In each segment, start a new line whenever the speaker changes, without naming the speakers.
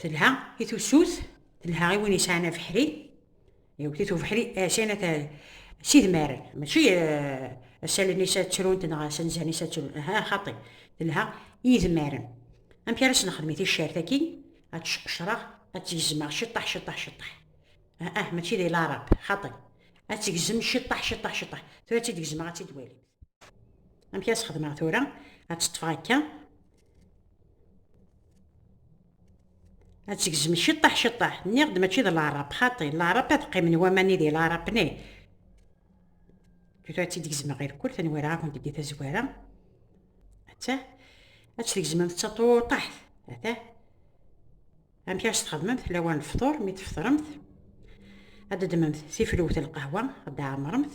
Telha i tusut, telha i win yesɛan abeḥri, yewwet-it ubeḥri ɛcana ta s idmar, mačči asalen-is ad ttrunt neɣ asenzen-is ad ttrunt, aha xaṭi, telha i idmaren. Amek ara s-nexdem i ticcert-agi, ad tt-sqecreɣ, ad tt-gezmeɣ ciṭṭaḥ ciṭṭaḥ ciṭṭaḥ. Ah, mačči d ilarab, xaṭi. Ad tt-gezem ciṭṭaḥ ciṭṭaḥ ciṭṭaḥ. Tura ad tt-id-gezmeɣ, ad tt-id-walimt. amek as xedmeɣ tura ad teṭṭfeɣ akka ad tegzem ciṭṭaḥ ciṭṭaḥ nniɣ-d mačči d laɛrab xaṭi laɛrab ad qqimen waman-i di laɛrab ne tura ad tt-id-gezmeɣ ɣer kul tanwaraɣ-akent deg tazwara atta ad tt-tgezmem d taṭuṭaḥt atta amek ara s-txedmemt lawan lefṭur mi tfeṭremt ad d-ddmemt tifluwt n lqahwa ad d-ɛemremt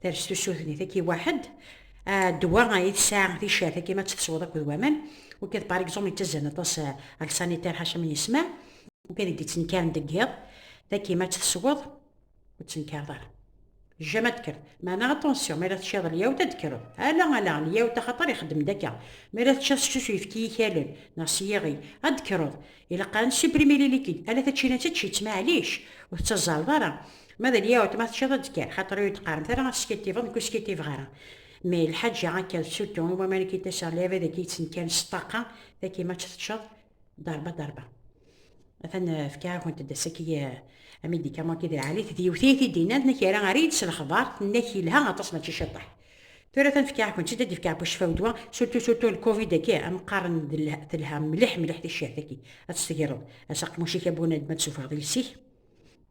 Ters tusut-nni taki waḥed, ddwa ay tesɛa ticcert akken ad tt-tesweḍ akked waman, ukad par exemple yettazzal aṭas ar sanitaire ḥaca mi yesma, ukad i d-yettnekkaren deg yiḍ, taki ma tt-tesweḍ ur ttnekkareḍ ara. Jjama d-kkreḍ. Meɛna attention, mi ara teččiḍ lyawt ad d-kkreḍ. Ala, ala, lyawt axaṭer ixeddem-d akka. Mi ara teččiḍ seksu s uyefki yikalen neɣ s yiɣi, ad d-kkreḍ. Ilaq ad nessupprimer les liquides. Ala tačinat ečč-itt, maɛlic, ur tettazzaleḍ ara. Ma d alyawt ma teččiḍ-d kan, xaṭer ur d-qqaremt ara teskittibeḍ, nekk ur skittibeɣ ara. Mais lḥaǧa akka d suttu i waman i k-id-aseɣ lɛibad agi yettnekkan s ṭṭaqa, taki ma tt-teččeḍ, darba darba. Atan fkiɣ-akent-d ass-agi amidikaman ki d lɛali-t, d yiwet i yi-t-id-innan, tenna-k yerra errid s lexbar, tenna-k yelha aṭas mačči ciṭeḥ. Tura atan fkiɣ-akent-id, ad d-fkeɣ bucfaw ddwa, suttu suttu lkovid aki, am qqaren telha mliḥ mliḥ ticcihat-agi, ad tt-tegreḍ, as aqmuc-ik a bunadem ad tessufɣeḍ iles-ik,